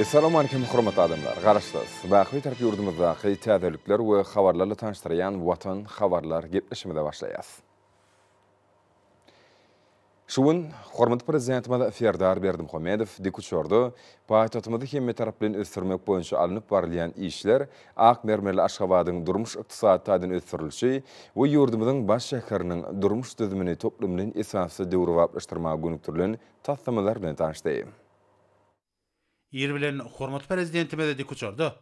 Essalam aleýkum hormatly adamlar. Garaşsyz, Wagtbitärk ýurdumyzdaky täzelikler we habarlarla tanyşdyrýan Watan habarlar gepleşigimize başlaýas. Şu gün hormatly Prezidentimiz Serdar Berdimuhamedow dikuçarda paýtagtymyzy hemmetaraplaýyn ösdürmek boýunça alnyp barylýan işler, ak mermerli Aşgabadyň durmuş-ykdysady taýdan ösdürilişi we ýurdumyzyň baş şäheriniň durmuş düzümini toplumlaýyn esasda döwrebaplaşdyrmaga gönükdirilen taslamalar bilen tanyşdy. Ir bilen hormatly Prezidentimiz dikuçarda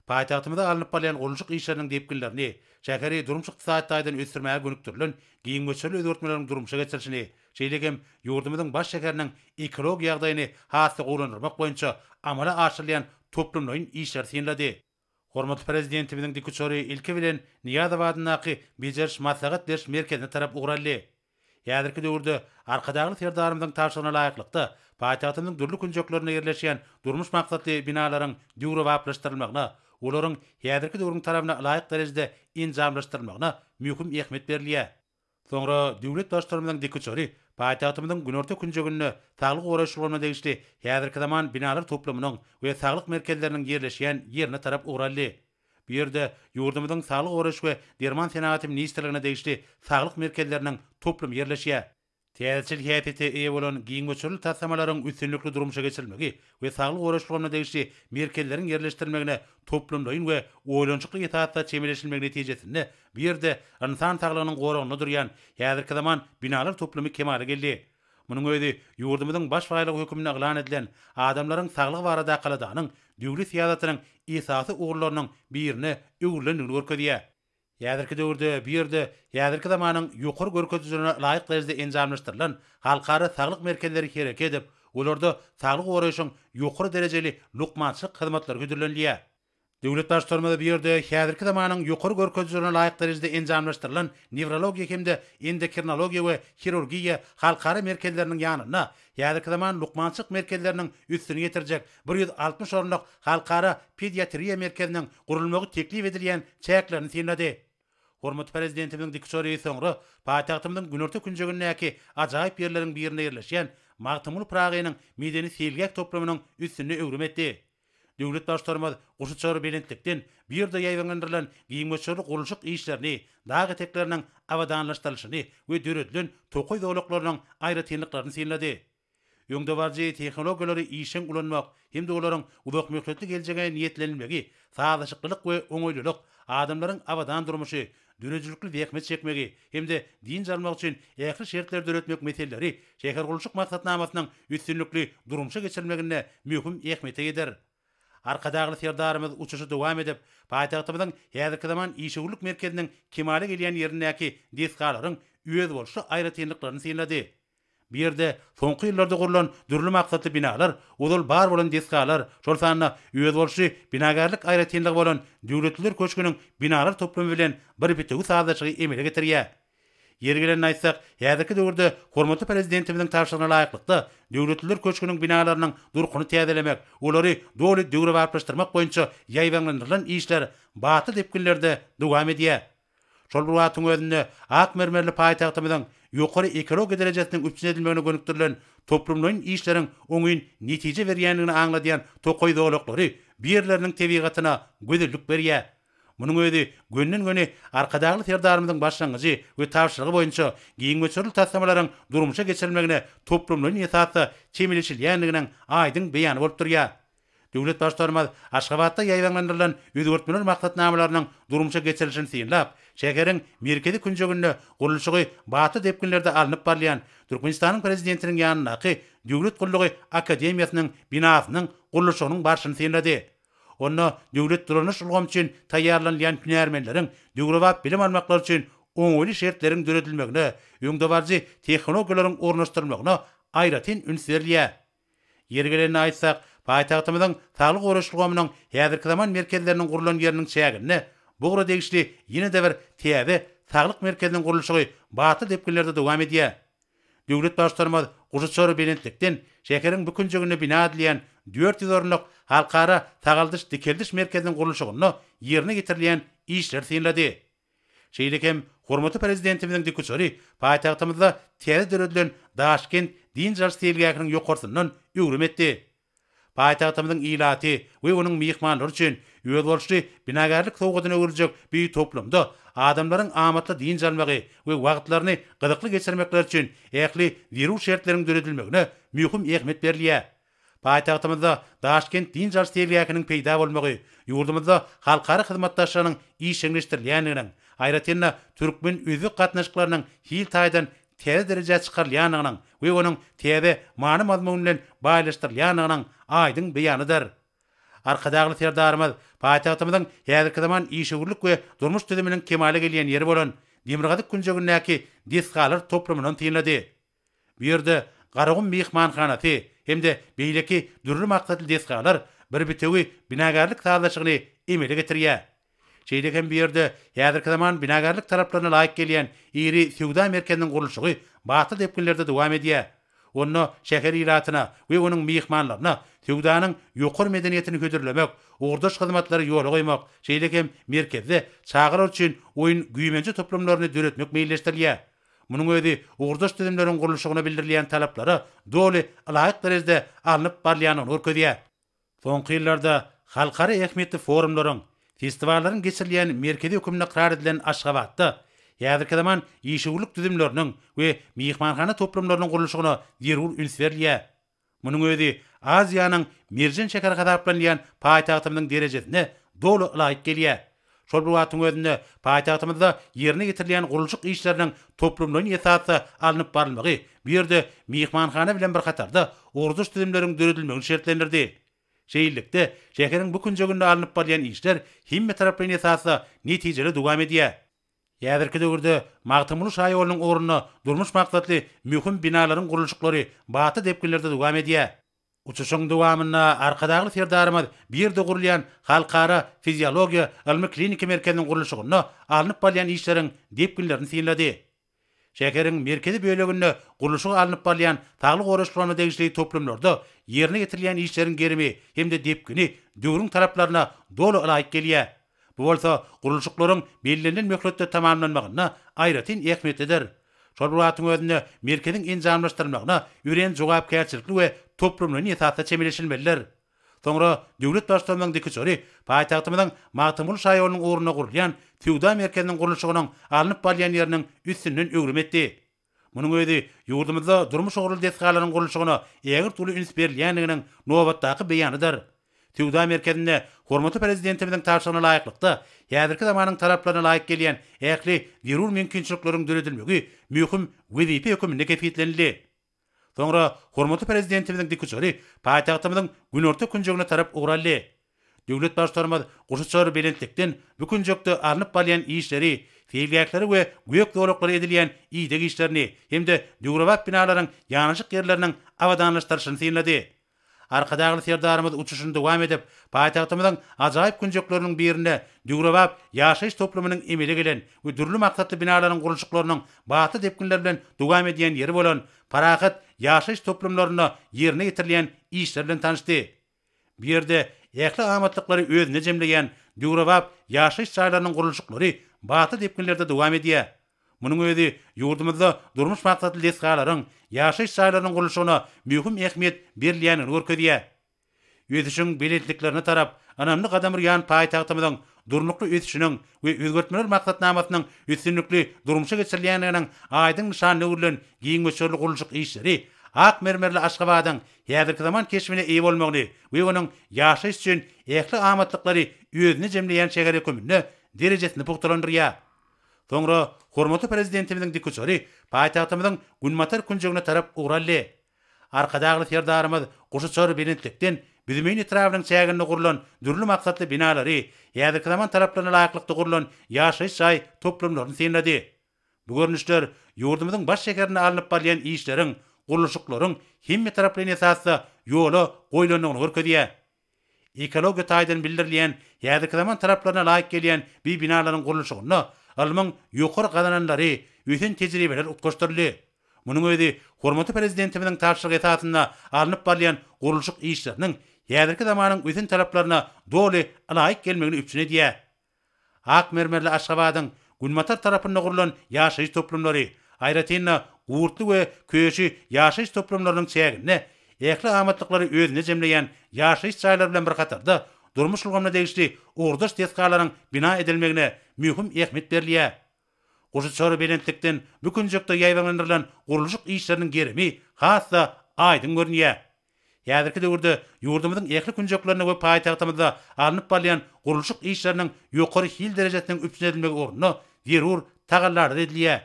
paýtagtymyzda alnyp barylýan gurluşyk işleriniň depginlerini, şäheri durmuş-ykdysady taýdan ösdürmäge gönükdirilen giň möçberli özgertmeleriň durmuşa geçirilişini, şeýle hem ýurdumyzyň baş şäheriniň ekologik ýagdaýyny has-da gowulandyrmak boýunça amala aşyrylýan toplumlaýyn işleri synlady. Hormatly Prezidentimiziň dikuçary ilki bilen Nyýazow adyndaky Bejeriş maslahat beriş merkezine tarap ugur aldy. Häzirki döwürde Arkadagly Serdarymyzyň tabşyrygyna laýyklykda, paýtagtymyzyň dürli künjeklerinde ýerleşýän durmuş maksatly binalaryň döwrebaplaşdyrylmagyna, olaryň häzirki döwrüň talabyna laýyk derejede enjamlaşdyrylmagyna möhüm ähmiýet berilýär. Soňra döwlet Baştutanymyzyň dikuçary paýtagtymyzyň günorta künjeginde saglygy goraýyş ulgamyna degişli häzirki zaman binalar toplumynyň we saglyk merkezleriniň ýerleşýän ýerine tarap ugraldy. Bu ýerde ýurdumyzyň Saglygy goraýyş we derman senagaty ministrligine degişli saglyk merkezleriniň toplum ýerleşýär. Täzeçil häsiýete eýe bolan giň möçberli taslamalaryň üstünlikli durmuşa geçirilmegi we saglygy goraýyş ulgamyna degişli merkezleriň ýerleşdirilmegine toplumlaýyn we oýlanyşykly esasda çemeleşilmegi netijesinde bu ýerde ynsan saglygynyň goragynda durýan häzirki zaman binalar toplumy kemala geldi. Munuň özi ýurdumyzyň baş baýlygy hökmünde yglan edilen Adamlaryň saglygy barada kaladanyň döwlet syýasatynyň esasy ugurlarynyň birine öwrülendigini görkezýär. Häzirki döwürde bu ýerde häzirki zamanyň ýokary görkezijilerine laýyk derejede enjamlaşdyrylan halkara saglyk merkezleri hereket edip, olarda saglygy goraýşyň ýokary derejeli lukmançylyk hyzmatlary hödürlenilýär. Döwlet Baştutanymyz bu ýerde häzirki zamanyň ýokary görkezijilerine laýyk derejede enjamlaşdyrylan newrologiýa hem-de endokrinologiýa we hirurgiýa halkara merkezleriniň ýanynda Häzirki zaman lukmançylyk merkezleriniň üstüni ýetirjek bir ýüz altmyş orunlyk Halkara pediatriýa merkeziniň gurulmagy teklip edilýän çäklerini synlady. Hormatly Prezidentimiziň dikuçary soňra paýtagtymyzyň günorta künjegindäki ajaýyp ýerleriň birinde ýerleşýän Magtymguly Pyragynyň medeni-seýilgäh toplumynyň üstünde öwrüm etdi. Döwlet Baştutanymyz guşuçar belentlikden bu ýerde ýaýbaňlandyrylan giň möçberli gurluşyk işlerini, dag etekleriniň abadanlaşdyrylyşyny we döredilen tokaý zolaklarynyň aýratynlyklaryny synlady. Öňdebaryjy tehnologiýalary işjeň ulanmak hem-de olaryň uzakmöhletli geljege niýetlenilmegi, sazlaşyklylyk we oňaýlylyk, adamlaryň abadan durmuşy, döredijilikli zähmet çekmegi hem-de dynç almak üçin ähli şertleri döretmek meseleleri şähergurluşyk maksatnamasynyň üstünlikli durmuşa geçirilmeginde möhüm ähmiýete ýeter. Arkadagly Serdarymyz uçuşy dowam edip, paýtagtymyzyň häzirki zaman işewürlik merkeziniň kemala gelýän ýerindäki desgalaryň özboluşly aýratynlyklaryny synlady Bu ýerde soňky ýyllarda gurlan dürli maksatly binalar, ozal bar bolan desgalar, şol sanda özboluşly binagärlik aýratynlygy bolan Döwletliler köşgüniň binalar toplumy bilen bir bitewi sazlaşygy emele getirýär. Ýeri gelende aýtsak, häzirki döwürde hormatly Prezidentimiziň tabşyrygyna laýyklykda, Döwletliler köşgüniň binalarynyň durkuny täzelemek, olary doly döwrebaplaşdyrmak boýunça ýaýbaňlandyrylan işler batly depginlerde dowam edýär. Şol bir wagtyň özünde ak mermerli paýtagtymyzyň ýokary ekologik derejesiniň üpjün edilmegine gönükdirilen toplumlaýyn işleriň oňyn netije berýändigini aňladýan tokaý zolaklary bu ýerleriniň tebigatyna gözellik berýär. Munuň özi gönden-göni Arkadagly Serdarymyzyň başlangyjy we tabşyrygy boýunça giň möçberli taslamalaryň durmuşa geçirilmegine toplumlaýyn esasda çemeleşilýändiginiň aýdyň beýany bolup durýar. Döwlet Baştutanymyz Aşgabatda ýaýbaňlandyrylan özgertmeler maksatnamalarynyň durmuşa geçirilişini synlap, şäheriň merkezi künjeginde gurluşygy batly depginlerde alnyp barylýan Türkmenistanyň Prezidentiniň ýanyndaky Döwlet gullugy akademiýasynyň binasynyň gurluşygynyň barşyny synlady. Onda döwlet dolanyş ulgamy üçin taýýarlanylýan hünärmenleriň döwrebap bilim almaklary üçin oňaýly şertleriň döredilmegine, öňdebaryjy tehnologiýalaryň ornaşdyrylmagyna aýratyn üns berilýär. Ýeri gelende aýtsak, paýtagtymyzyň Saglygy goraýyş ulgamynyň häzirki zaman merkezleriniň gurlan ýeriniň çäginde bu ugra degişli ýene-de bir täze Saglyk merkeziniň gurluşygy batly depginlerde dowam edýär. Döwlet Baştutanymyz guşuçar belentlikden şäheriň bu künjeginde bina edilýän dört ýüz orunlyk Halkara sagaldyş-dikeldiş merkeziniň gurluşygynda ýerine ýetirilýän işleri synlady. Şeýle hem hormatly Prezidentimiziň dikuçary paýtagtymyzda täze döredilen Daşkent dynç alyş seýilgähiniň ýokarsyndan öwrüm etdi. Paýtagtymyzyň ilaty we onuň myhmanlary üçin özboluşly binagärlik sowgadyna öwrüljek bu toplumda adamlaryň amatly dynç almagy we wagtlaryny gyzykly geçirmekleri üçin ähli zerur şertleriň döredilmegine möhüm ähmiýet berilýär. Paýtagtymyzda Daşkent dynç alyş seýilgähiniň peýda bolmagy ýurdumyzda halkara hyzmatdaşlygynyň işjeňleşdirilýändiginiň, aýratyn-da, türkmen-özbek gatnaşyklarynyň hil taýdan täze derejä çykarylýandygynyň we onuň täze many-mazmun bilen baýlaşdyrylýandygynyň aýdyň beýanydyr. Arkadagly Serdarymyz paýtagtymyzyň häzirki zaman işewürlik we durmuş düzüminiň kemala gelýän ýeri bolan demirgazyk künjegindäki desgalar toplumyndan synlady. Bu ýerde Garagum myhmanhanasy hem-de beýleki dürli maksatly desgalar bir bitewi binagärlik sazlaşygyny emele getirýär. Şeýle hem bu ýerde häzirki zaman binagärlik talaplaryna laýyk gelýän iri söwda merkeziniň gurluşygy batly depginlerde dowam edýär. Onda şäher ilatyna we onuň myhmanlaryna söwdanyň ýokary medeniýetini hödürlemek, ugurdaş hyzmatlary ýola goýmak, şeýle hem merkezde çagalar üçin oýun-güýmenje toplumlaryny döretmek meýilleşdirilýär. Munuň özi ugurdaş düzümleriň gurluşygyna bildirilýän talaplara doly ylaýyk derejede alnyp barylýandygyny görkezýär. Soňky ýyllarda halkara ähmiýetli forumlaryň, festiwallaryň geçirilýän merkezi hökümli ykrar edilen Aşgabatda häzirki zaman işewürlik düzümleriniň we myhmanhana toplumlarynyň gurluşygyna zerur üns berilýär. Munuň özi Aziýanyň merjen şäheri hasaplanylýan paýtagtymyzyň derejesine doly laýyk gelýär. Şol bir wagtyň özünde paýtagtymyzda ýerine ýetirilýän gurluşyk işleriniň toplumlaýyn esasda alnyp barylmagy bu ýerde myhmanhana bilen bir hatarda ugurdaş düzümleriň döredilmegini şertlendirdi. Şeýlelikde, şäheriň bu künjeginde alnyp barylýan işler hemmetaraplaýyn esasda netijeli dowam edýär. Häzirki döwürde Magtymguly şaýolunyň ugrunda durmuş maksatly möhüm binalaryň gurluşyklary batly depginlerde dowam edýär. Uçuşyň dowamynda Arkadagly Serdarymyz Birde gurulýan Halkara fiziologiýa ylmy-kliniki merkeziniň gurluşygynda alnyp barylýan işleriň depginlerini synlady. Şäheriň merkezi böleginde gurluşygy alnyp barylýan saglygy goraýyş pulana degişli toplumlarda ýerine ýetirilýän işleriň gerimi hem-de depgini döwrüň talaplaryna doly ylaýyk gelýär. Bu bolsa gurluşyklaryň bellenilen möhletde tamamlanmagynda aýratyn ähmiýetlidir. Şol bir wagtyň özünde merkeziň enjamlaşdyrylmagyna örän jogapkärçilikli we toplumlaýyn esasda çemeleşilmelidir. Soňra döwlet Baştutanymyzyň dik uçary paýtagtymyzyň Magtymguly şaýolunyň ugrunda gurulýan söwda merkeziniň gurluşygynyň alnyp barylýan ýeriniň üstünden öwrüm etdi. Munuň özi ýurdumyzda durmuş ugurly desgalaryň gurluşygyna ägirt uly üns berilýändiginiň nobatdaky beýanydyr. Söwda merkezinde hormatly Prezidentimiziň tabşyrygyna laýyklykda, häzirki zamanyň talaplaryna laýyk gelýän ähli zerur mümkinçilikleriň döredilmegi möhüm wezipe höküminde kesgitlenildi. Soňra hormatly Prezidentimiziň dikuçary paýtagtymyzyň günorta künjegine tarap ugraldy. Döwlet Baştutanymyz guşuçar belentlikden bu künjekde alnyp barylýan işleri, seýilgähleri we gök zolaklary edilýän ideg işlerini hem-de döwrebap binalaryň ýanaşyk ýerleriniň abadanlaşdyryşyny synlady. Arkadagly Serdarymyz uçuşyny dowam edip, paýtagtymyzyň ajaýyp künjekleriniň birinde döwrebap ýaşaýyş toplumynyň emele gelen we dürli maksatly binalaryň gurluşyklarynyň batly depginler bilen dowam edýän ýeri bolan Parahat ýaşaýyş toplumlarynda ýerine ýetirilýän işler bilen tanyşdy. Bu ýerde ähli amatlyklary özünde jemleýän döwrebap ýaşaýyş jaýlarynyň gurluşyklary batly depginlerde dowam edýär. Munuň özi ýurdumyzda durmuş maksatly desgalaryň, ýaşaýyş jaýlarynyň gurluşygyna möhüm ähmiýet berilýändigini görkezýär. Ösüşiň belentliklerine tarap ynamly gadam urýan paýtagtymyzyň Durnukly ösüşiniň we özgertmeler maksatnamasynyň üstünlikli durmuşa geçirilýändiginiň aýdyň nyşanyna öwrülen giň möçberli gurluşyk işleri ak mermerli Aşgabadyň häzirki zaman keşbine eýe bolmagyny we onuň ýaşaýyş üçin ähli amatlyklary özünde jemleýän şäher höküminde derejesini pugtalandyrýar. Soňra hormatly Prezidentimiziň dikuçary paýtagtymyzyň günbatar künjegine tarap ugraldy. Arkadagly Serdarymyz guşuçar belentlikden Büzmeýin etrabynyň çäginde gurlan dürli maksatly binalary, häzirki zaman talaplaryna laýyklykda gurlan ýaşaýyş jaý toplumlaryny synlady. Bu görnüşler ýurdumyzyň baş şäherinde alnyp barylýan işleriň, gurluşyklaryň hemmetaraplaýyn esasda ýola goýlandygyny görkezýär. Ekologiýa taýdan bildirilýän häzirki zaman talaplaryna laýyk gelýän bi binalaryň gurluşygynda ylmyň ýokary gazananlary, ösen tejribeler utgaşdyryldy. Munuň özi hormatly Prezidentimiziň tabşyrygy esasynda alnyp barylýan gurluşyk işleriniň häzirki zamanyň ösen talaplaryna doly ylaýyk gelmegini üpjün edýär. Ak mermerli Aşgabadyň günbatar tarapynda gurlan ýaşaýyş toplumlary, aýratyn-da, Gurtly we Köşi ýaşaýyş toplumlarynyň çäginde ähli amatlyklary özünde jemleýän ýaşaýyş jaýlary bilen bir hatarda durmuş ulgamyna degişli ugurdaş desgalaryň bina edilmegine möhüm ähmiýet berilýär. Guşuçar belentlikden bu künjekde ýaýbaňlandyrylan gurluşyk işleriniň gerimi has-da aýdyň görünýär. Häzirki döwürde ýurdumyzyň ähli künjeklerinde we paýtagtymyzda alnyp barylýan gurluşyk işleriniň ýokary hil derejesiniň üpjün edilmegi ugrunda zerur tagallalar edilýär.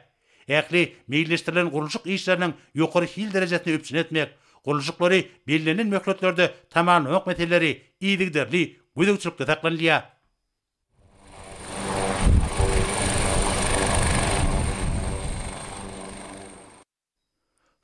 Ähli meýilleşdirilen gurluşyk işleriniň ýokary hil derejesini üpjün etmek, gurluşyklary bellenilen möhletlerde tamamlamak meseleleri yzygiderli gözegçilikde saklanylýar.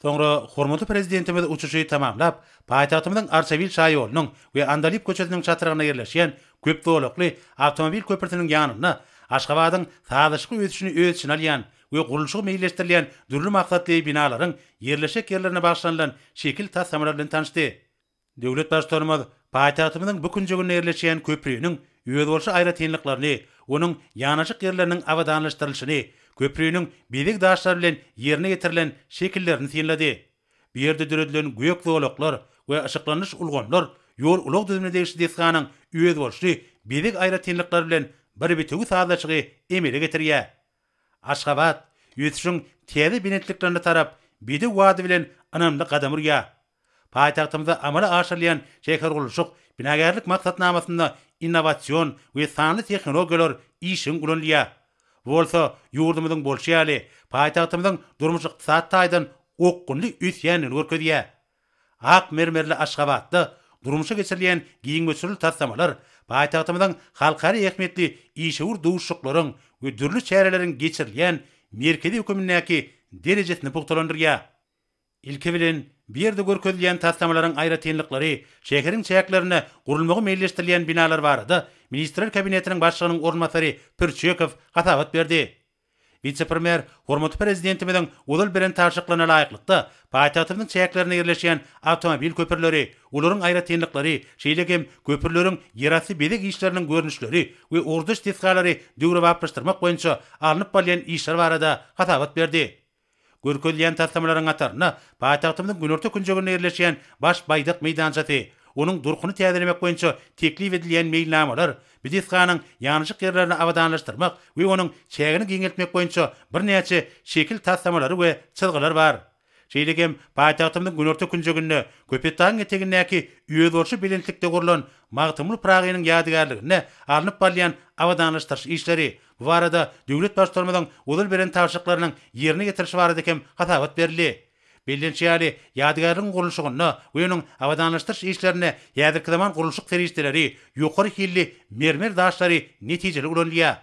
Soňra hormatly Prezidentimiz uçuşy tamamlap, paýtagtymyzyň Arçabil şaýolunyň we Andalyp köçesiniň çatrygynda ýerleşýän köp zolakly awtomobil köprüsiniň ýanynda Aşgabadyň sazlaşykly ösüşini öz içine alýan we gurluşygy meýilleşdirilýän dürli maksatly binalaryň ýerleşjek ýerlerine bagyşlanylan şekil taslamalar bilen tanyşdy. Döwlet Baştutanymyz paýtagtymyzyň bu künjeginde ýerleşýän köpriniň özboluşly aýratynlyklaryny, onuň ýanaşyk ýerleriniň abadanlaşdyrylyşyny, köpriniň bezeg daşlary bilen ýerine ýetirilen şekillerini synlady. Bu ýerde döredilen gök zolaklar we yşyklandyryş ulgamlar ýol-ulag düzümine degişli desganyň özboluşly bezeg aýratynlyklary bilen bir bitewi sazlaşygy emele getirýär. Aşgabat ösüşiň täze belentliklerine tarap bedew wady bilen ynamly gadam urýar. Paýtagtymyzda amala aşyrylýan şähergurluşyk, binagärlik maksatnamasynda innowasion we sanly tehnologiýalar işjeň ulanylýar. Bu bolsa, ýurdumyzyň bolşy ýaly, paýtagtymyzyň durmuş-ykdysady taýdan okgunly ösýändigini görkezýär. Ak mermerli Aşgabatda durmuşa geçirilýän giň möçberli taslamalar paýtagtymyzyň halkara ähmiýetli işewür duşuşyklaryň we dürli çäreleriň geçirilýän merkezi hökümindäki derejesini pugtalandyrýar. Ilki bilen, bu ýerde görkezilýän taslamalaryň aýratynlyklary, şäheriň çäklerinde gurulmagy meýilleşdirilýän binalar barada Ministrler Kabinetiniň Başlygynyň orunbasary Pürçekow hasabat berdi. Wise-premýer hormatly Prezidentimiziň ozal beren tabşyryklaryna laýyklykda, paýtagtymyzyň çäklerinde ýerleşýän awtomobil köprüleri, olaryň aýratynlyklary, şeýle hem köprüleriň ýerasty bezeg işleriniň görnüşleri we ugurdaş desgalary döwrebaplaşdyrmak boýunça alnyp barylýan işler barada hasabat berdi. Görkezilýän taslamalaryň hatarynda paýtagtymyzyň günorta künjeginde ýerleşýän Baş Baýdak meýdançasy, onuň durkuny täzelemek boýunça teklip edilýän meýilnamalar, Bidisganyň ýanyjyk ýerlerini abadanlaşdyrmak we onuň çägini giňeltmek boýunça birnäçe şekil taslamalary we çyzgylar bar. Şeýle hem paýtagtymyzyň günorta künjeginde, Köpetdagyň etegindäki özboluşly belentlikde gurlan Magtymguly Pyragynyň ýadygärligine alnyp barylýan abadanlaşdyryş işleri, Bu barada döwlet Baştutanymyzyň ozal beren tabşyryklarynyň ýerine ýetirilişi barada hem hasabat berildi. Bellenişi ýaly, ýadygärligiň gurluşygyna we onuň abadanlaşdyryş işlerinde häzirki zaman gurluşyk serişdeleri, ýokary hilli mermer daşlary netijeli ulanylýar.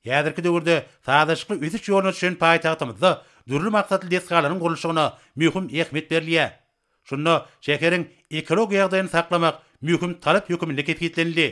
Häzirki döwürde sazlaşykly ösüş ýoluna düşen paýtagtymyzda dürli maksatly desgalaryň gurluşygyna möhüm ähmiýet berilýär. Şunda şäheriň ekologik ýagdaýyny saklamak möhüm talap höküminde kesgitlenildi.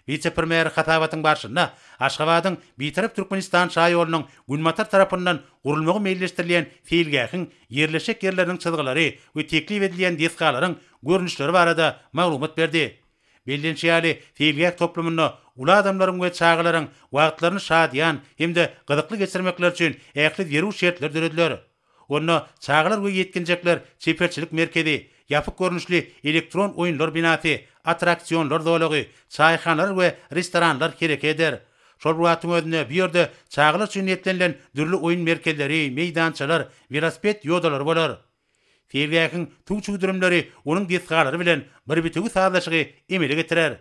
Wise-premýer hasabatyň barşynda Aşgabadyň Bitarap Türkmenistan şaýolunyň günbatar tarapyndan gurulmagy meýilleşdirilýän seýilgähiň ýerleşjek ýerleriniň çyzgylary we teklip edilýän desgalaryň görnüşleri barada maglumat berdi. Bellenişi ýaly, seýilgäh toplumynda uly adamlaryň we çagalaryň wagtlaryny şadyýan hem-de gyzykly geçirmekleri üçin ähli zerur şertler dörediler. Onda çagalar we ýetginjekler çeperçilik merkezi, ýapyk görnüşli elektron oýunlar binasy, attraksionlar zolagy, çaýhanalar we restoranlar hereke eder. Şol bir wagtyň özünde bu ýerde çagalar üçin niýetlenilen dürli oýun merkezleri, meýdançalar, welosiped ýodalary bolar. Seýilgähiň suw çüwdürimleri onuň desgalary bilen bir bitewi sazlaşygy emele getirer.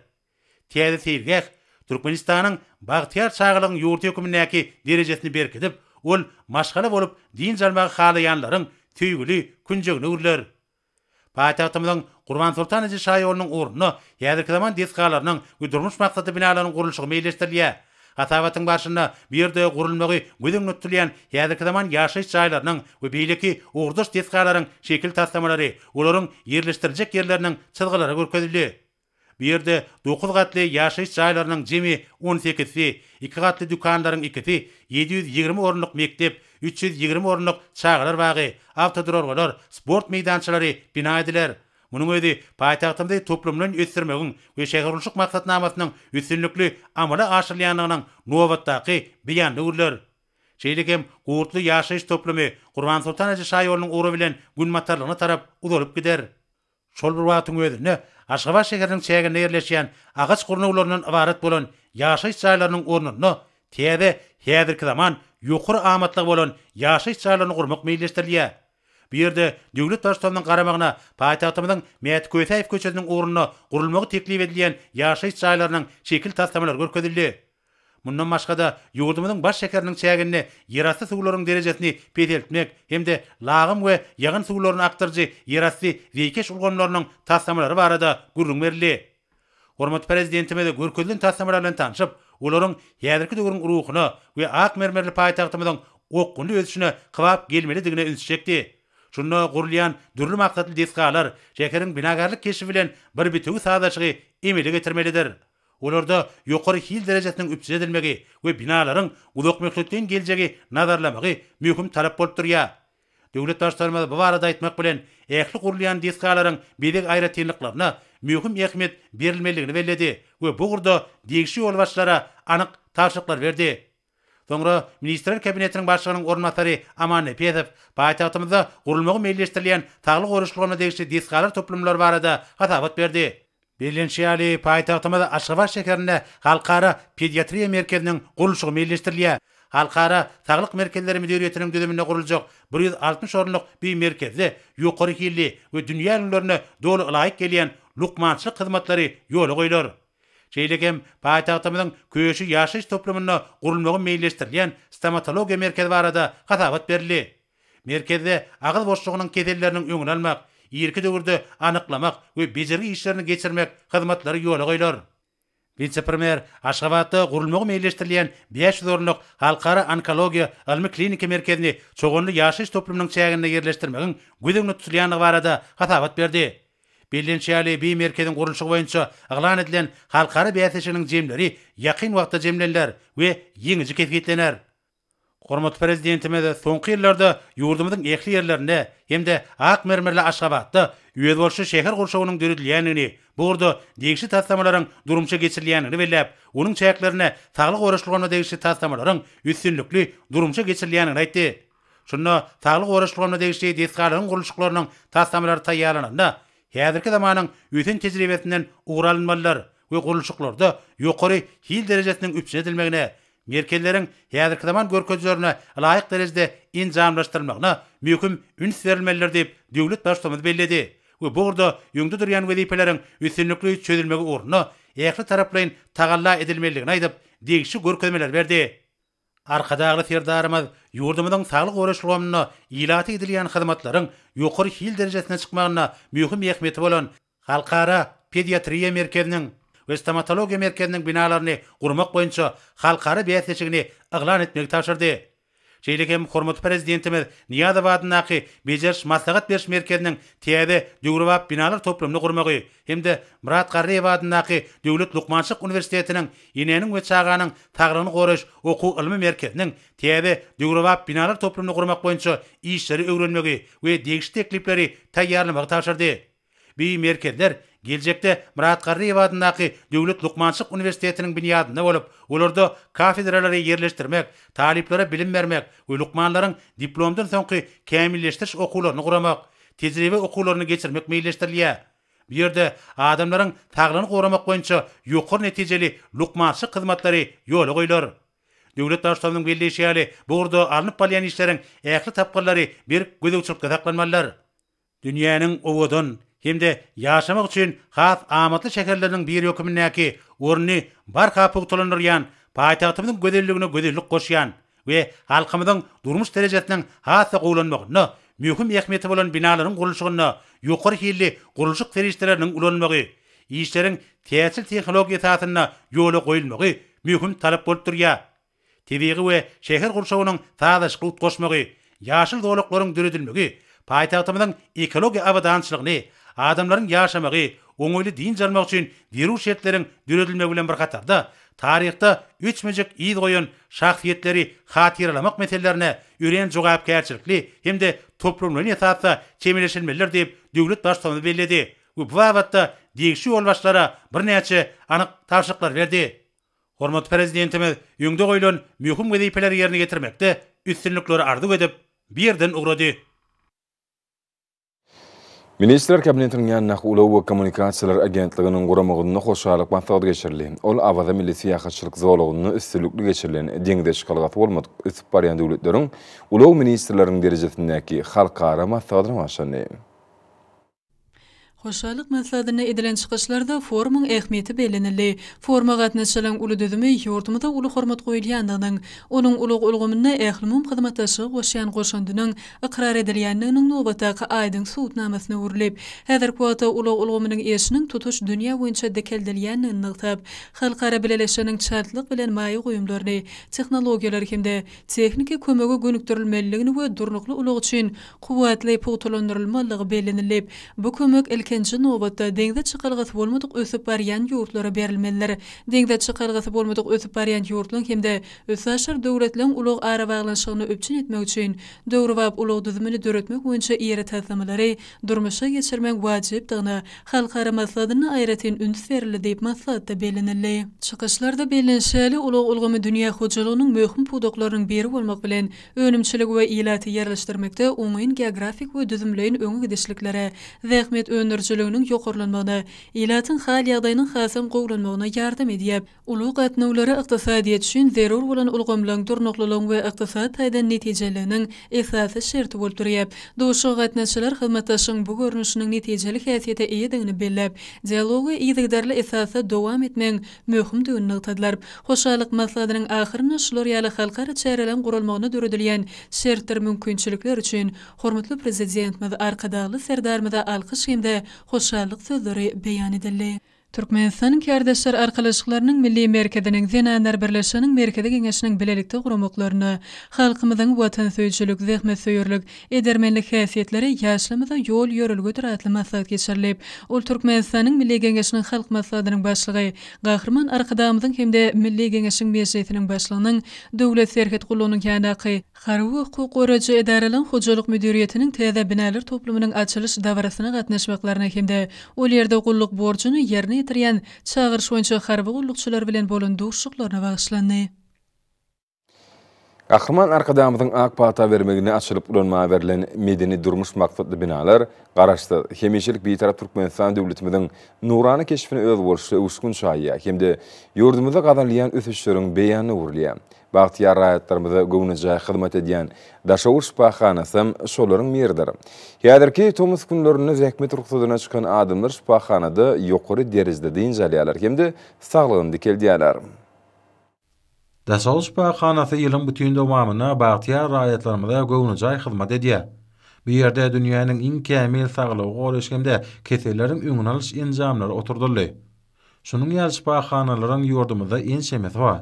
Täze seýilgäh Türkmenistanyň bagtyýar çagalygyň ýurdy hökmündäki derejesini berkidip, ol maşgala bolup dynç almagy halaýanlaryň söýgüli künjegini gürlär. Paýtagtymyzyň Gurbansoltan Aji şaýolunyň ornuna häzirki zaman desgalarynyň we durmuş maksatly binalaryň gurluşygy meýilleşdirilýär. Hasabatyň barşynda bu ýerde gurulmagy göz öňünde tutulýan häzirki zaman ýaşaýyş jaýlarynyň we beýleki ugurdaş desgalaryň şekil taslamalary, olaryň ýerleşdiriljek ýerleriniň çyzgylary görkezildi. Bu ýerde dokuz gatly ýaşaýyş jaýlarynyň jemi on sekizsi, iki gatly dükanlaryň ikisi, ýedi ýüz ýigrimi orunlyk mekdep, üç ýüz ýigrimi orunlyk çagalar bagy, awtoduralgalar, sport meýdançalary bina ediler. Munuň özi paýtagtymyzy toplumlaýyn ösdürmegiň we şähergurluşyk maksatnamasynyň üstünlikli amala aşyrylýandygynyň nobatdaky beýan öwrüler. Şeýle hem Gurtly ýaşaýyş toplumy Gurbansoltan eje şaýolunyň ugry bilen günbatarlygyna tarap uzalyp gider. Şol bir wagtyň özünde, Aşgabat şäheriniň çäginde ýerleşýän agaç gurnawlaryndan ybarat bolan ýaşaýyş jaýlarynyň ornunda täze, häzirki zaman, ýokary amatlygy bolan ýaşaýyş jaýlaryny gurmak meýilleşdirilýär. Bu ýerde Döwlet Baştutanymyzyň garamagyna paýtagtymyzyň Mäti Kösäýew köçesiniň ugrunda gurulmagy teklip edilýän ýaşaýyş jaýlarynyň şekil taslamalary görkezildi. Mundan başga-da, ýurdumyzyň baş şäheriniň çäginde ýerasty suwlaryň derejesini peseltmek hem-de lagym we ýagyn suwlaryny akdyryjy ýerasty zeýkeş ulgamlarynyň taslamalary barada gürrüň berildi. Hormatly Prezidentimiz görkezilen taslamalar bilen tanşyp, olaryň häzirki döwrüň ruhuna we ak mermerli paýtagtymyzyň okgunly ösüşine kybap gelmelidigine üns çekdi. Şunda gurulýan dürli maksatly desgalar şäheriň binagärlik keşbi bilen bir bitewi sazlaşygy emele getirmelidir. Olarda ýokary hil derejesiniň üpjün edilmegi we binalaryň uzakmöhletleýin geljegi nazarlamagy möhüm talap bolup durýar. Döwlet Baştutanymyz bu barada aýtmak bilen, ähli gurulýan desgalaryň bezeg aýratynlyklaryna möhüm ähmiýet berilmelidigini belledi we bu ugurda degişli ýolbaşçylara anyk tabşyryklar berdi. Soňra Ministrler Kabinetiniň Başlygynyň orunbasary Aman Nepesow paýtagtymyzda gurulmagy meýilleşdirilýän saglyk goraýyş ulgamyna degişli desgalar toplumlary barada hasabat berdi. Bellenişi ýaly, paýtagtymyz Aşgabat şäherinde Halkara pediatriýa merkeziniň gurluşygy meýilleşdirilýär. Halkara saglyk merkezleri müdiriýetiniň düzüminde guruljak bir ýüz altmyş orunlyk bu merkezde ýokary hilli we dünýä ülňülerine doly ylaýyk gelýän lukmançylyk hyzmatlary ýola goýlar. Şeýle hem paýtagtymyzyň Köşi ýaşaýyş toplumynda gurulmagy meýilleşdirilýän Stomatologiýa merkezi barada hasabat berildi. Merkezde agyz boşlugynyň keselleriniň öňüni almak, irki döwürde anyklamak we bejergi işlerini geçirmek hyzmatlary ýola goýlar. Wise-premýer Aşgabatda gurulmagy meýilleşdirilýän bäş ýüz orunlyk Halkara onkologiýa ylmy-kliniki merkezini Çoganly ýaşaýyş toplumynyň çäginde ýerleşdirmegiň göz öňünde tutulýandygy barada hasabat berdi. Bellenişi ýaly, bi merkeziň gurluşygy boýunça yglan edilen halkara bäsleşiginiň jemleri ýakyn wagtda jemleniler we ýeňiji kesgitlener. Hormatly Prezidentimiz soňky ýyllarda ýurdumyzyň ähli ýerlerinde hem-de ak mermerli Aşgabatda özboluşly şäher gurşawynyň döredilýändigini, bu ugurda degişli taslamalaryň durmuşa geçirilýändigini belläp, onuň çäklerinde saglyk goraşylgaryna degişli taslamalaryň üstünlikli durmuşa geçirilýändigini aýtdy. Şunda saglygy goraýyş ulgamyna degişli desgalaryň gurluşyklarynyň taslamalary taýýarlananda, häzirki zamanyň ösen tejribesinden ugur alynmalydyr we gurluşyklarda ýokary hil derejesiniň üpjün edilmegine, merkezleriň häzirki zaman görkezijilerine laýyk derejede enjamlaşdyrylmagyna möhüm üns berilmelidir diýip, döwlet Baştutamymyz belledi we bu ugurda öňde durýan wezipeleriň üstünlikli çözülmegi ugrunda ähli taraplaýyn tagalla edilmelidigini aýdyp, degişli görkezmeleri berdi. Arkadagly Serdarymyz ýurdumyzyň saglygy goraýyş ulgamynda ilata edilýän hyzmatlaryň ýokary hil derejesine çykmagynda möhüm ähmiýeti bolan Halkara pediatriýa merkeziniň we Stomatologiýa merkeziniň binalaryny gurmak boýunça halkara bäsleşigini yglan etmegi tabşyrdy. Şeýle hem hormatly Prezidentimiz Nyýazow adyndaky Bejeriş-maslahat beriş merkeziniň täze döwrebap binalar toplumyny gurmagy hem-de Myrat Garryýew adyndaky Döwlet lukmançylyk uniwersitetiniň Enäniň we çaganyň saglygyny goraýyş okuw-ylmy merkeziniň täze döwrebap binalar toplumyny gurmak boýunça işleri öwrenmegi we degişli teklipleri taýýarlamagy tabşyrdy. Bi merkezler geljekde Myrat Garryýew adyndaky Döwlet lukmançylyk uniwersitetiniň binýadynda bolup, olarda kafedralary ýerleşdirmek, talyplara bilim bermek we lukmanlaryň diplomdan soňky kämilleşdiriş okuwlaryny guramak, tejribe okuwlaryny geçirmek meýilleşdirilýär. Bu ýerde adamlaryň saglygyny goramak boýunça ýokary netijeli lukmançylyk hyzmatlary ýola goýlar. Döwlet Baştutanymyzyň belleýşi ýaly, bu ugurda alnyp barylýan işleriň ähli tapgyrlary berk gözegçilikde saklanmalydyr. Dünýäniň owadan hem-de ýaşamak üçin has amatly şäherleriniň biri hökümindäki ornuny barha pugtalandyrýan, paýtagtymyzyň gözelligine gözellik goşýan, we halkymyzyň durmuş derejesiniň has-da gowulanmagynda möhüm ähmiýeti bolan binalaryň gurluşygynda ýokary hilli gurluşyk serişdeleriniň ulanylmagy, işleriň täjirçil tehnologiýa esasynda ýola goýulmagy möhüm talap bolup durýar. Tebigy we şäher gurşawynyň sazlaşykly utgaşmagy, Ýaşyl zolaklaryň döredilmegi paýtagtymyzyň ekologiýa abadançylygyny, adamlaryň ýaşamagy, oňaýly dynç almagy üçin zerur şertleriň döredilmegi bilen bir hatarda, taryhda öçmejek yz goýan şahsyýetleri hatyralamak meselelerine örän jogapkärçilikli hem-de toplumlaýyn esasda çemeleşilmelidir diýip, döwlet Baştutanymyz belledi we bu babatda degişli ýolbaşçylara birnäçe anyk tabşyryklary berdi. Hormatly Prezidentimiz öňde goýlan möhüm wezipeleri ýerine ýetirmekde üstünlikleri arzuw edip, bu ýerden ugrady. Ministrler Kabinetiniň ýanyndaky Ulag we kommunikasiýalar agentliginiň guramagynda hoşallyk maslahaty geçirildi. Ol Awaza milli syýahatçylyk zolagynda üstünlikli geçirilen deňze çykalgasy bolmadyk ösüp barýan döwletleriň ulag ministrleriniň derejesindäki halkara maslahatyna başlandy. Hoşallyk maslahatynda edilen çykyşlarda forumyň ähmiýeti bellenildi. Foruma gatnaşyjylaryň uly düzümi ýurdumyzda uly hormat goýulýandygynyň, onuň ulag ulgamynda ählumumy hyzmatdaşlyga goşýan goşandynyň ykrar edilýändiginiň nobatdaky aýdyň subutnamasyna öwrülip, häzirki wagtda ulag ulgamynyň işiniň tutuş dünýä boýunça dikeldilýändigini nygtap, halkara bileleşiginiň çaltlyk bilen maýa goýumlaryny, tehnologiýalary hem-de tehniki kömege gönükdirilmelidigini we durnukly ulag üçin kuwwatly pugtalandyrylmalydygy bellenilip, bu kömek ilkinji nobatda deňze çykalgasy bolmadyk ösüp barýan ýurtlara berilmelidir. Deňze çykalgasy bolmadyk ösüp barýan ýurtlaryň hem-de üstaşyr döwletleriň ulag arabaglanyşygyny üpjün etmek üçin döwrebap ulag düzümini döretmek boýunça iri taslamalary durmuşa geçirmek wajypdygyna halkara maslahatynda aýratyn üns berildi diýip, maslahatda bellenildi. Çykyşlarda bellenişi ýaly, ulag ulgamy dünýä hojalygynyň möhüm pudaklarynyň biri bolmak bilen, önümçiligi we ilaty ýerleşdirmekde oňyn geografik we düzümleýin öňe gidişliklere, zähmet öndürijiliginiň ýokarlanmagyna, ilatyň hal-ýagdaýynyň hasam gowulanmagyna ýardam edýär. Ulag gatnawlary ykdysadyýet üçin zerur bolan ulgamlaryň durnuklylygyň we ykdysady taýdan netijeliliginiň esasy şerti bolup durýar. Duşuşyga gatnaşyjylar hyzmatdaşlygyň bu görnüşiniň netijeli häsiýete eýedigini belläp, dialogy yzygiderli esasda dowam etmegiň möhümdigini nygtadylar. Hoşallyk maslahatynyň ahyrynda şular ýaly halkara çäreleriň guralmagyna döredilýän şertler, mümkinçilikler üçin hormatly Prezidentimiz Arkadagly Serdarymyza alkyş hem-de hoşallyk sözleri beýan edildi. Türkmenistanyň Kärdeşler arkalaşyklarynyň Milli merkeziniň Zenanlar birleşiginiň Merkezi Geňeşiniň bilelikde guramaklarynda halkymyzyň watansöýüjilik, zähmetsöýerlik, edermenlik häsiýetleri ýaşlarymyza ýol-ýörelgedir atly maslahat geçirilip, ol Türkmenistanyň Milli Geňeşiniň Halk Maslahatynyň Başlygy Gahryman Arkadagymyzyň hem-de Milli Geňeşiň Mejlisiniň Başlygynyň Döwlet serhet gullugynyň ýandaky Harby hukuk goraýjy edaralaryň hojalyk müdiriýetiniň täze binalar toplumynyň açylyş dabarasyna gatnaşmaklaryna hem-de ol ýerde gulluk borjuny ýerine ýetirýän çagyryş boýunça harby gullukçylar bilen bolan duşuşyklaryna bagyşlandy. Gahryman Arkadagymyzyň ak pata bermeginde açylyp ulanmaga berlen medeni-durmuş maksatly binalar Garaşsyz, hemişelik Bitarap Türkmenistan döwletimiziň nurana keşbine özboluşly öwüşgün çaýýar hem-de ýurdumyzda gazanylýan ösüşleriň beýanyna öwrülýär. Bagtyýar raýatlarymyza göwnejaý hyzmat edýän Daşoguz şypahanasam şolaryň biridir. Häzirki tomus günlerinde zähmet rugsadyna çykan adamlar şypahanada ýokary derejede dynç alýarlar hem-de saglygyny dikeldýärler. Daşoguz şypahanasy ýylyň bütin dowamynda bagtyýar raýatlarymyza göwnejaý hyzmat edýär. Bu ýerde dünýäniň iň kämil saglygy goraýyş hem-de keselleriň öňüni alyş enjamlary oturdyldy. Şunuň ýaly şypahanalaryň ýurdumyzda ençemesi bar.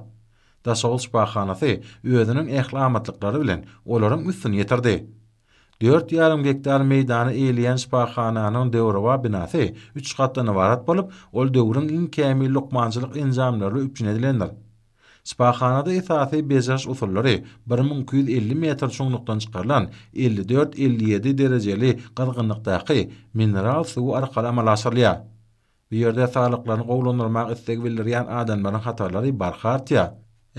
Daşoguz şypahanasy özüniň ähli amatlyklary bilen olaryň üstüni ýetirdi. Dört ýarym gektar meýdany eýleýän şypahananyň döwrebap binasy üç gatdan ybarat bolup, ol döwrüň iň kämil lukmançylyk enjamlaryla üpjün edilendir. Şypahanada esasy bejeriş usullary bir müň iki ýüz elli metr çuňlukdan çykarylan elli dört-elli ýedi derejeli gyzgynlykdaky mineral suwy arkaly amala aşyrylýar. Bu ýerde saglyklaryny gowulandyrmak istegi bildirýän adamlaryň hatarlary barha artýar.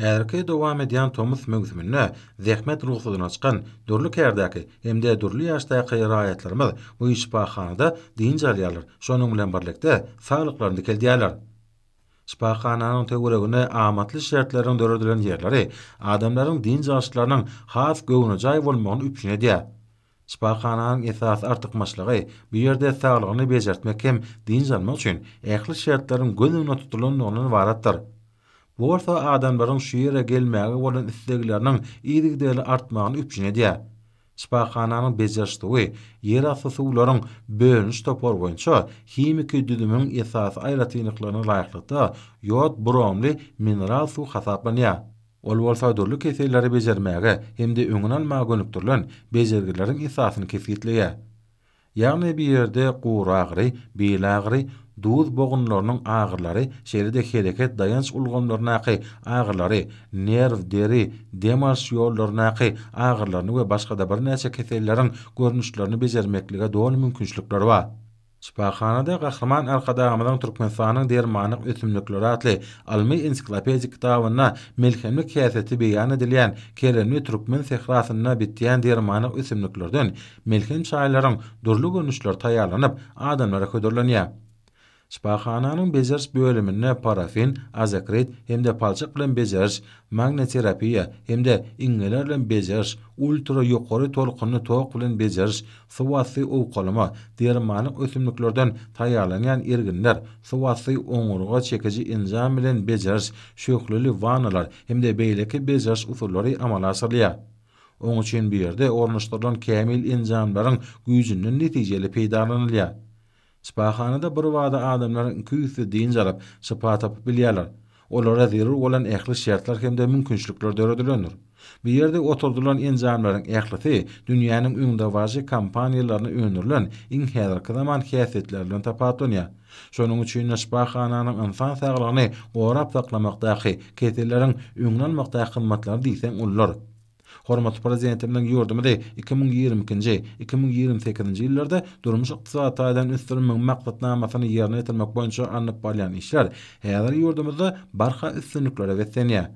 Häzirki dowam edýän tomus möwsüminde zähmet rugsadyna çykan dürli kärdäki hem-de dürli ýaşdaky raýatlarymyz bu şypahanada dynç alýarlar, şonuň bilen birlikde, saglyklaryny dikeldýärler. Şypahananyň töweregine amatly şertleriň döredilen ýerleri adamlaryň dynç alyşlarynyň has göwnejaý bolmagyny üpjün edýär. Şypahananyň esasy artykmaçlygy, bu ýerde saglygyny bejertmek hem dynç almak üçin ähli şertleriň göz öňünde tutulanlygyndan ybaratdyr. Bu bolsa adamlaryň şu ýere gelmäge bolan islegleriniň yzygiderli artmagyny üpjün edýär. Şypahananyň bejeriş suwy ýerasty suwlaryň bölüniş topary boýunça himiki düzümiň esasy aýratynlyklaryna laýyklykda ýod-bromly mineral suw hasaplanýar. Ol bolsa dürli keselleri bejermäge hem-de öňüni almaga gönükdirilen bejergileriň esasyny kesgitleýär. Ýagny bu ýerde guragyry, bil agyry, duz bogunlarynyň agyrylary, şeýle-de hereket-daýanç ulgamlaryndaky agyrylary, nerw, deri, dem alyş ýollaryndaky agyrylaryny we başga-da birnäçe keselleriň görnüşlerini bejermeklige doly mümkinçilikleri bar. Şypahanada Gahryman Arkadagymyzyň Türkmenistanyň dermanlyk ösümlikleri atly ylmy-ensiklopedik kitabynda melhemlik häsiýeti beýan edilýän keremli türkmen sährasynda bitýän dermanlyk ösümliklerden melhem çaýlaryň dürli görnüşleri taýýarlanyp, adamlara hödürlenýär. Şypahananyň bejeriş bölüminde parafin, azokrit hem-de palçyk bilen bejeriş, magniterapiýa hem-de iňňeler bilen bejeriş, ultra ýokary tolkunly tok bilen bejeriş, Suwasty owkalama, dermanlyk ösümliklerden taýýarlanýan erginler, suwasty oňurga çekiji enjam bilen bejeriş, şöhleli wannalar hem-de beýleki bejeriş usullary amala aşyrylýar. Oň üçin bu ýerde ornaşdyrylan kämil enjamlaryň güýjünden netijeli peýdalanylýar. Şypahanada birbada adamlaryň iki üýsli dynç alyp, şypa tapyp bilýärler. Olara zerur bolan ähli şertler hem-de mümkinçilikler döredilendir. Bu ýerde oturdylan enjamlaryň ählisi dünýäniň öňdebaryjy kompaniýalarynda öndürilen iň häzirki zaman häsiýetleri bilen tapawutlanýar. Şonuň üçin-de şypahananyň ynsan saglygyny gorap saklamakdaky, keselleriň öňüni almakdaky hyzmatlary diýseň uludyr. Hormatly Prezidentimiziň ýurdumyzy iki müň ýigrimi ikinji, iki müň ýigrimi sekizinji ýyllarda durmuş-ykdysady taýdan ösdürmegiň maksatnamasyny ýerine ýetirmek boýunça alnyp barýan işler häzir ýurdumyzda barha üstünliklere beslenýär.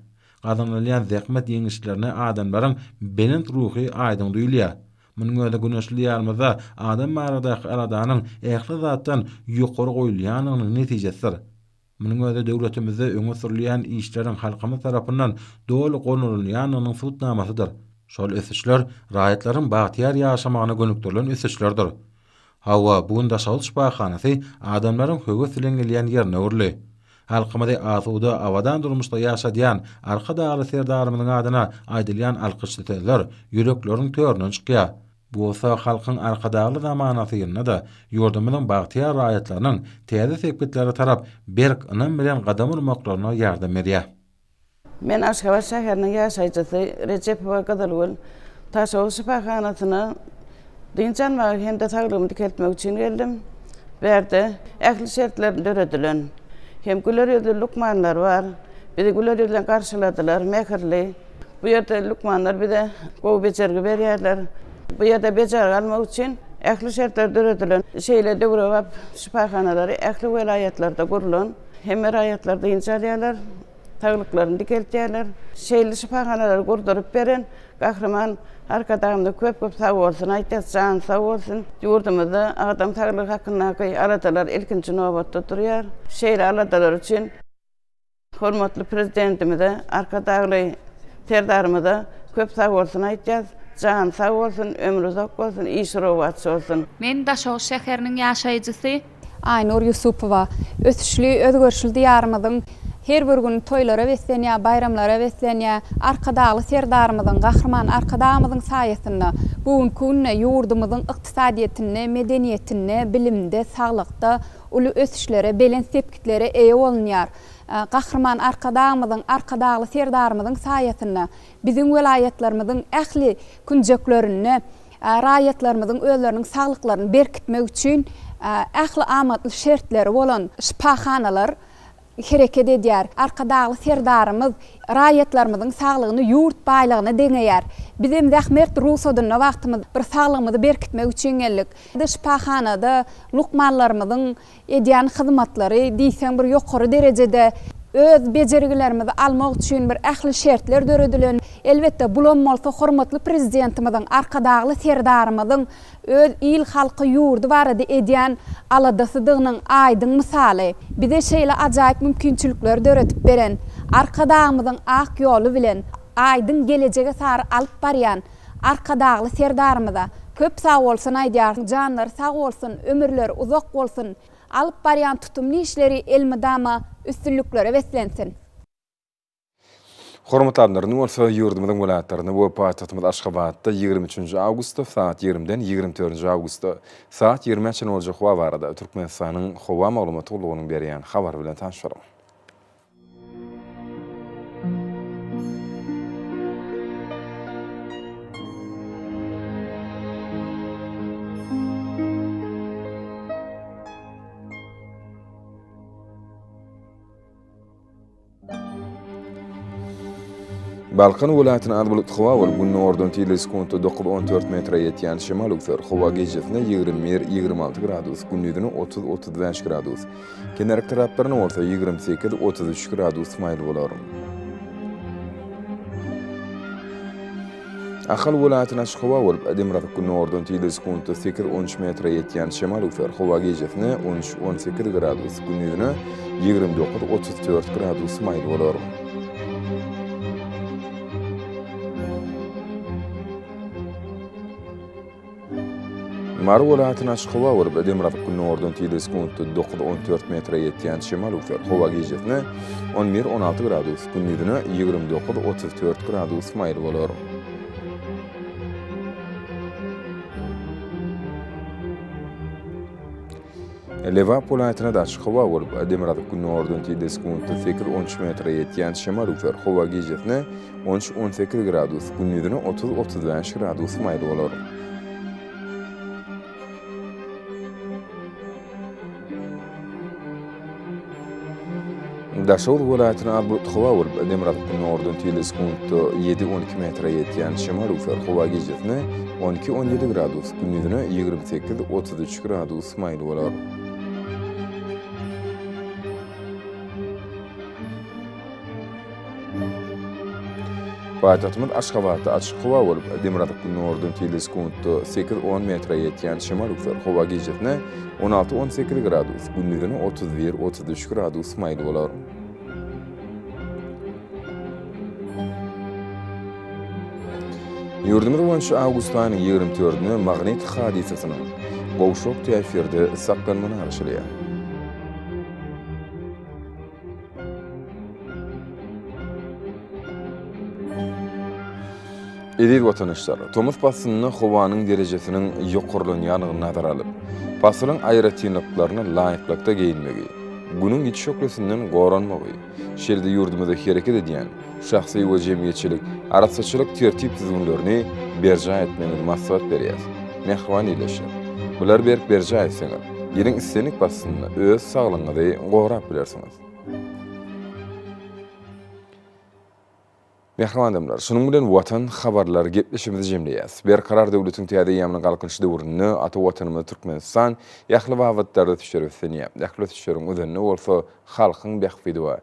Gazanylýan zähmet ýeňişlerine adamlaryň belent ruhy aýdyň duýulýar. Munuň özi güneşli Diýarymyzda adam baradaky aladanyň ähli zatdan ýokary goýulýandygynyň netijesidir. Munuň özi döwletimizde öňe sürülýän işleriň halkymyz tarapyndan doly gollanylýandygynyň subutnamasydyr. Şol ösüşler raýatlaryň bagtyýar ýaşamagyna gönükdirilen ösüşlerdir. Hawa, bu gün Daşoguz şypahanasy adamlaryň höwes bilen gelýän ýerine öwrüldi. Halkymyzy asuda, abadan durmuşda ýaşadýan Arkadagly Serdarymyzyň adyna aýdylýan alkyşly sözler ýürekleriň töründen çykýar. Bu bolsa Halkyň Arkadagly zamanasy ýylynda-da ýurdumyzyň bagtyýar raýatlarynyň täze sepgitlere tarap berk ynam bilen gadam urmaklaryna ýardam berýär. Men Aşgabat şäheriniň ýaşaýjysy Rejepowa Gyzylgül Taşowa şypahanasyna dynç almaga hem-de saglygymy dikeltmek üçin geldim. Bärde ähli şertler döredilen. Hem güler ýüzli lukmanlar bar. Bizi güler ýüzlen garşyladylar, mähirli, Bu ýerde lukmanlar bize gowy bejergi berýärler. Bu ýerde bejergi almak üçin ähli şertler döredilen. Şeýle döwrebap şypahanalary ähli welaýatlarda gurlan. Hemme raýatlar dynç alýarlar, saglyklaryny dikeltýärler. Şeýle şypahanalary gurduryp beren Gahryman Arkadagymyza köp-köp sag bolsun aýdýas, jany sag bolsun. Ýurdumyzda adam saglygy hakyndaky aladalar ilkinji nobatda durýar. Şeýle aladalar üçin. Hormatly Prezidentimize, Arkadagly Serdarymyza köp sagbolsun aýtýas. Jany sag bolsun, ömri uzak bolsun, işi rowaç bolsun! Men Daşoguz şäheriniň ýaşaýjysy. Aýnur Ýusupowa. Ösüşli, özgerişli Diýarymyzyň her bir güni toýlara beslenýär, baýramlara beslenýär. Arkadagly Serdarymyzyň, Gahryman Arkadagymyzyň saýasynda bu günki günde ýurdumyzyň ykdysadyýetinde, medeniýetinde, bilimde, saglykda, uly ösüşlere, belent sepgitlere eýe bolunýar. Gahryman Arkadagymyzyň, Arkadagly Serdarymyzyň saýasynda biziň welaýatlarymyzyň ähli künjeklerinde raýatlarymyzyň özleriniň saglyklaryny berkitmek üçin ähli amatly şertleri bolan şypahanalar hereket edýär. Arkadagly Serdarymyz raýatlarymyzyň saglygyny ýurt baýlygyna deňeýär. Bizem zähmert rugsadynda wagtymyz bir saglygymyzy berkitmek üçin geldik. Şypahanada lukmanlarymyzyň edýän hyzmatlary diýseň bir ýokary derejede. Öz bejergilerimizi almak üçin bir ähli şertler döredilen. Elbetde bulam bolsa hormatly Prezidentimiziň, Arkadagly Serdarymyzyň öz il-halky, ýurdy barada edýän aladasydygynyň aýdyň mysaly. Bize şeýle ajaýyp mümkinçilikleri döredip beren Arkadagymyzyň ak ýoly bilen aýdyň gelejege sary alyp barýan Arkadagly Serdarymyza köp sagbolsun aýdýarys, janlary sag bolsun, ömürleri uzak bolsun, alyp barýan tutumly işleri elmydama üstünliklere beslensin! Hormatly adamlar, indi bolsa ýurdumyzyň welaýatlarynda we paýtagtymyz Aşgabatda ýigrimi üçünji awgustda sagat ýigrimiden ýigrimi dördünji awgustda sagat ýigrimä çenli boljak howa barada Türkmenistanyň Howa maglumat gullugynyň berýän habary bilen tanyşalyň. Balkan welaýatyna az bulutly howa bolup, gündogardan tizligi sekuntda dokuz on dört metre ýetýän şemal öwser. Howa gijesine ýigrimi bir, ýigrimi alty gradus, gündizine otuz, otuz bäş gradus. Kenar taraplarynda bolsa ýigrimi sekiz, otuz üç gradus maýyl bolar. Ahal welaýatyna açyk howa bolup, demirgazyk gündogardan tizligi sekuntda sekiz, on üç metre ýetýän şemal üflär. Howa gijesine on üç, on sekiz gradus, gündizine ýigrimi dokuz, otuz dört gradus maýyl bolar. Mary welaýatynyň açyk howa görüp, demirgazyk gündogardan tizligi sekuntda dokuz-on dört metre ýetýän şemal öwser. Howa gijesine on bir-on alty gradus, gündiz-ine ýigrimi dokuz-otuz dört gradus maýyl bolar. Lebap welaýatynda-da açyk howa bolup, demirgazyk günordan tizde sekuntda sekiz, on üç metre ýetýän şemal üfer. Howa gijesine on üç, on sekiz gradus, gündizine otuz, otuz bäş gradus maýyl bolar. Daşoguz welaýatyna az bulutly howa bolup, demirgazyk günordan tel sekuntda ýedi, on iki metre ýetýän şemal öwser. Howa gijesine on iki, on ýedi gradus, gündizine ýigrimi sekiz, otuz üç gradus maýyl bolar. Paýtagtymyz Aşgabatda açyk howa bolup, demirgazyk gündogardan tebigy sekuntda sekiz-on metre ýetýän şemal öwser. Howa gijesine on alty-on sekiz gradus, gündizine otuz bir-otuz üç gradus maýyl bolar. Ýurdumyz boýunça awgust aýynyň ýigrimi dördüne magnit hadysasynyň gowşak täsirde saklanmagy garaşylýar. Eziz watandaşlar, tomus paslynda howanyň derejesiniň ýokarlanýandygyny nazara alyp, pasylyň aýratynlyklaryna laýyklykda geýinmegi, Günüň ýiti şöhlesinden goranmagy, şeýle-de ýurdumyzda hereket edýän Şahsy we jemgyýetçilik arassaçylyk tertip-düzgünlerini berjaý etmegiňizi maslahat berýär. Mähriban ýerleşiň. Bulary berk berjaý etseňiz, ýylyň islendik paslynda öz saglygyňyzy gorap bilersiňiz. Mähriban adamlar, şunuň bilen Watan habarlar gepleşigimizi jemleýäs. Berkarar döwletiň täze eýýamynyň Galkynyş döwründe ata Watanymyz Türkmenistan ähli babatlarda ösüşleri beslenýär. Ähli ösüşleriň özünde bolsa halkyň bähbidi we